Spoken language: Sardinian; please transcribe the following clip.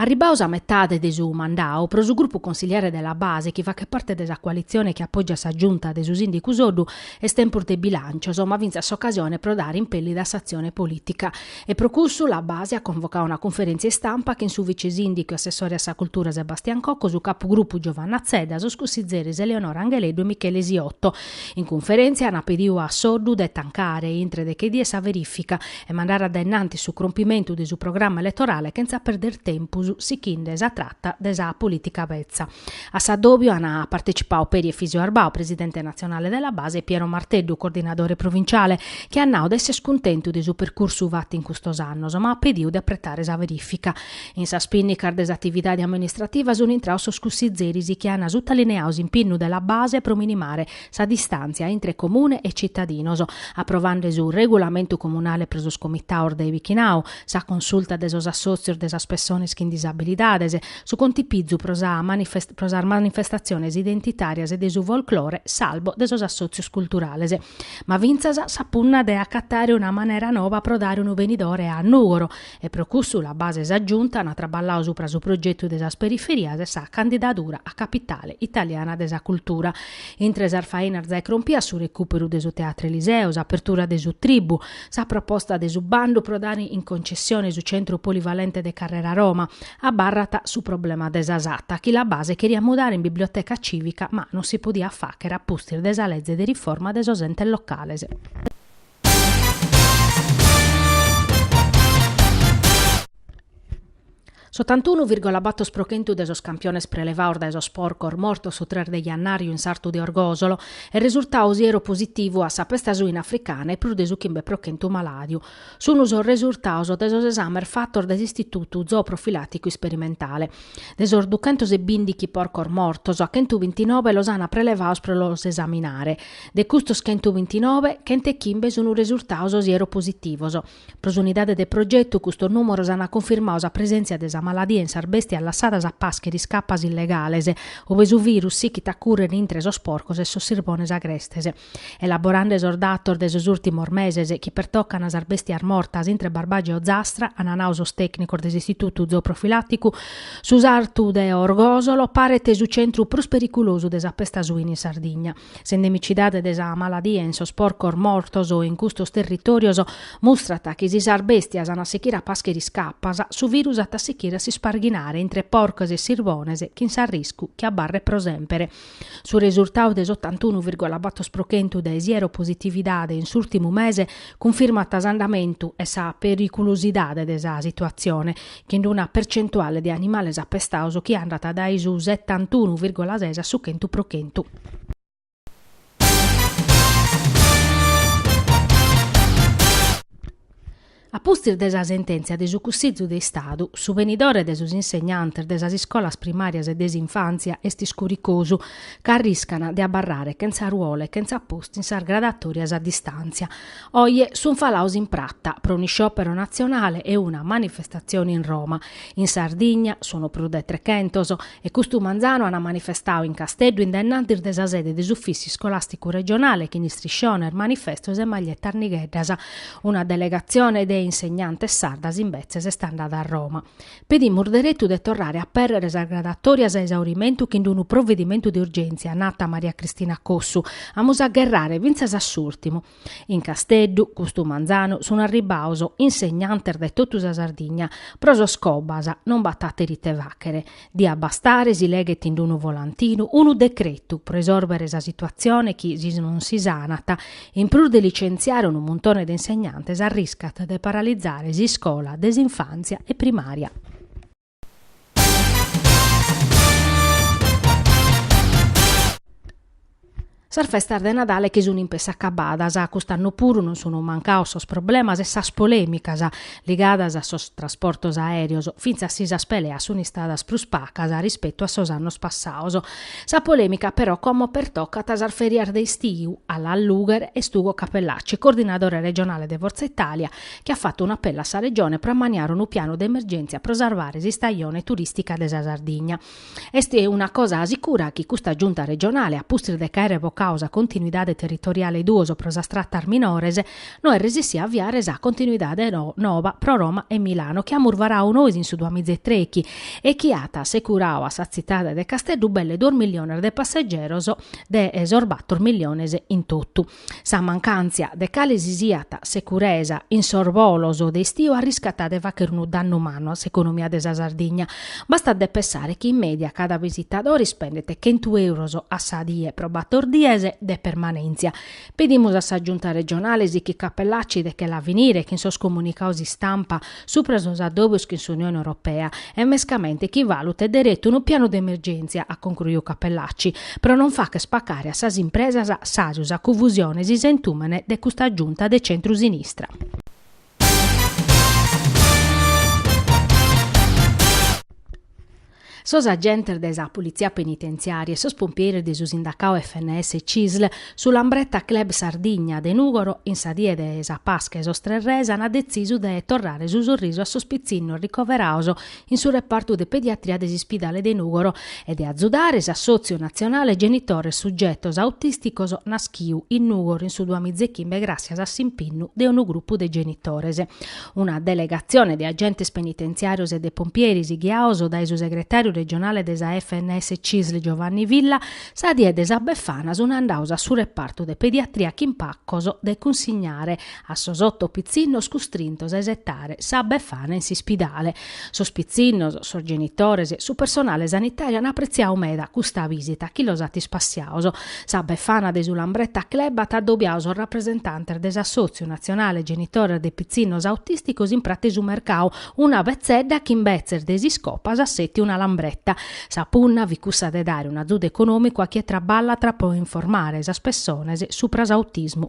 Arribaos a metade de su mandau, pro su grupu consigliare de la Base chi fachet parte de sa coalitzione chi apògiat sa Giunta de su sìndicu Soddu, est tempus de bilàncios, ma fintzas s'ocasione pro dare impèllida a s'atzione polìtica. E pro cussu la Base at convocau una cunferèntzia istampa chin su vice-sìndicu e assessore a sa Cultura Sebastian Cocco, su capugrupu Giovanna Zedda, sos cussizeres Eleonora Angheleddu e Michele Siotto. In cunferèntzia ant pediu a Soddu de tancare intre deche dies sa verìfica e mandare a dae innantis su crompimentu de su programma eletorale chentza perder tempus sichinde sa trata de sa polìtica betza. A s'addòbiu an partecipau peri Efisio Arbau, presidente natzionale de la Base e Piero Marteddu, coordinadore provinciale, chi at nau de essere cuntentu de su percursu fatu in custos annos, ma at pediu de apretare sa verìfica. In sas pìnnicas de s'atividade amministrativa sunt intraos sos cussizeris chi an sutalineau s'impinnu de la Base pro minimare sa distàntzia intre Comune e citadinos, aprovande su Regulamentu Comunale pro sos Comitaos de bichinau, sa consulta de sos assòtzios de sas pessones chin disabilidades, su contipizu pro sas manifestatziones identitàrias e de su folclore, s'albo de sos assòtzios culturales. Ma fintzas sa punna de acatare una manera nova pro dare unu benidore a Nùgoro, e pro cussu la Base e sa Giunta ant traballau supra su progetu de sas periferias e sa candidadura a Capitale italiana de sa cultura. Intre sas fainas zai crompias su recùperu de su Teatro Eliseo, s'apertura de su Tribù, sa proposta de su bandu pro dare in concessione su centru polivalente de Carrera Roma, abarrat su problema de sa Satta chi la Base cheriat mudare in biblioteca cìvica ma non si podiat fàchere a pustis de sa leze de riforma de sos entes locales. S'otantunu vìrgola bator pro chentu de sos campiones prelevaos dae sos porcos mortos su tres de jannàriu in s'artu de Orgòsolo est resurtau sieropositivu a sa pesta suina africana e prus de su chimbe pro chentu malàdiu sun sos resurtados de sos esames fatos dae s'Istitutu Zooprofilàticu Isperimentale. De sos duchentos e bìndichi porcos mortos, a chentu bintinobe los ant prelevaos pro los esaminare. De custos chentu bintinove, chent'e chimbe sun resurtaos sieropositivos. Pro s'unidade de progetu custos nùmeros ant cunfirmau sa presèntzia de sa maladia in sas bèstias lassadas a pàschere iscapas illegales, ube su virus sichit a cùrrere intre sos porcos e sos sirbones agrestes. Elaborande sos datos de sos ùrtimos meses chi pertocant sas bèstias mortas intre Barbagia e Ozastra, ant nau sos tècnicos de s'Istitutu Zooprofilàticu, su sartu de Orgòsolo paret su centru prus periculosu de sa pesta suina in Sardigna. S'endemicidade de sa maladia in sos porcos mortos in custos territòrios mustrat chi si sas bèstias an a sichire a pàschere iscapas, su virus at a sichire a s'isparghinare intre porcos e sirvones chin s'arriscu chi abarret pro semper. Su resurtadu de s'otantunu virgola bator pro chentu de sieropositividade in s'ùrtimu mese cunfirmat s'andamentu e sa periculusidade de sa situatzione, chin una percentuale de animales apestados chi andat dae su setantunu virgola ses a su chentu pro chentu. A pustis de sa sentèntzia de su Cussìgiu de Istadu, su benidore de sos insegnantes de sas iscolas primàrias e de s'infàntzia est iscuricosu ca arriscana de abarrare chentza ruolu e chentza postu in sas gradatòrias a distàntzia. Oje sunt falados in prata pro un'isciòpero natzionale e una manifestatzione in Roma. In Sardigna, sun prus de trechentos, E custu manzanu ant manifestau in Casteddu in dae in antis de sa sede de s'Ufissi Scolàsticu Regionale chin istrisciones, manifestos e maglietas nigheddas. Una delegatzione de insegnantes sardas imbetzes est andada a Roma. Pedimus deretu de torrare a apèrrere sas gradàtorias a esaurimentu chin d'unu provedimentu de urgèntzia, nat Maria Cristina Cossu. Amus a gherrare fintzas a s'ùrtimu. In Casteddu, custu manzanu, sun arribbados insegnantes dae totu sa Sardigna, pro sos Cobas non b'at àteru ite fàghere. Diat bastare si leghet in unu volantinu unu decretu pro isòrbere sa situatzione chi, si non si sanat, in prus de licentziare unu muntone de insegnantes arriscat de paralizare s'iscola de s'infàntzia e primària. Sas festas de Nadale chi sun in pessu acabadas, cust'annu puru non sun mancados sos problemas e sas polèmicas ligadas a sos trasportos aèreos, fintzas si sas peleas sun istadas prus pacas rispetu a sos annos passados. Sa polèmica però como pertocat sas fèrias de istiu, a l'allùghere est Ugo Cappellacci, coordinadore regionale de Forza Italia, chi at fatu un'apellu a sa Regione pro ammaniare unu pianu de emergèntzia pro sarvare s'istajone turìstica de sa Sardigna. Est una cosa sicura chi custa Giunta regionale, a pustis de ch'àere vocadu sa continuidade territoriale duos pro sas tratas minores, no est resessida a aviare sa continuidade noba pro Roma e Milano chi amus varadu nois in su duamizaetrechi e chi at assecuradu a sa tzitade de Casteddu belle duos milliones de passegeros de sos bator milliones in totu. Sa mancàntzia de cale si siat securesa in sos bolos de istiu arriscat de fàghere unu dannu mannu a s'economia de sa Sardigna. Bastat de pensare chi in mèdia cada visitadore ispendet chentu èuros a sa die pro bator dies de permanèntzia. Pedimus a sa Giunta regionale sighit Cappellacci de che la finire chin sos comunicados istampa supra sos addòbios chin s'Unione Europea e mescamente chi valutet deretu unu pianu de emergèntzia, at concruiu Cappellacci, pro non fagher pacare a sas impresas sardas sa cunfusione e su isentùmene de custa Giunta de centru-sinistra. Sos agentes de sa Politzia Penitentziària e sos pompieres de su sindacau FNS Cisl, su Lambretta Club Sardigna de Nùgoro, in sa die de sa Pasca 'e sos Tres Res ant detzisu de torrare su sorrisu a sos pitzinnos ricoveraos in su repartu de pediatria de s'Ispidale de Nùgoro e de azudare s'Assòtziu Natzionale Genitores Sugetos Autìsticos naschiu in Nùgoro in su duamizechimbe gràssias a s'impinnu de unu grupu de genitores. Una delegatzione de agentes penitentziàrios e de pompieres ghiaos dae su segretàriu regionale de sa FNS-CISL Giovanni Villa, sa die de sa Befana sunt andaos a su repartu de pediatria chin pacos de cunsignare a sos oto pitzinnos custrintos a esetare sa Befana in s'ispidale, Sos pitzinnos, sos genitores, su personale sanitàriu an apretziadu meda custa visita chi los at ispassiaos. Sa Befana de su Lambretta Club at adobiadu sos rapresentantes de s'Assòtziu natzionale genitores de pitzinnos autìsticos in prate su mercau, una betzedda chi imbetzes de s'iscopa at setiu una lambretta. Sa punna fit cussa de dare un'azudu econòmicu a chie traballat pro informare sas pessones supra s'autismu.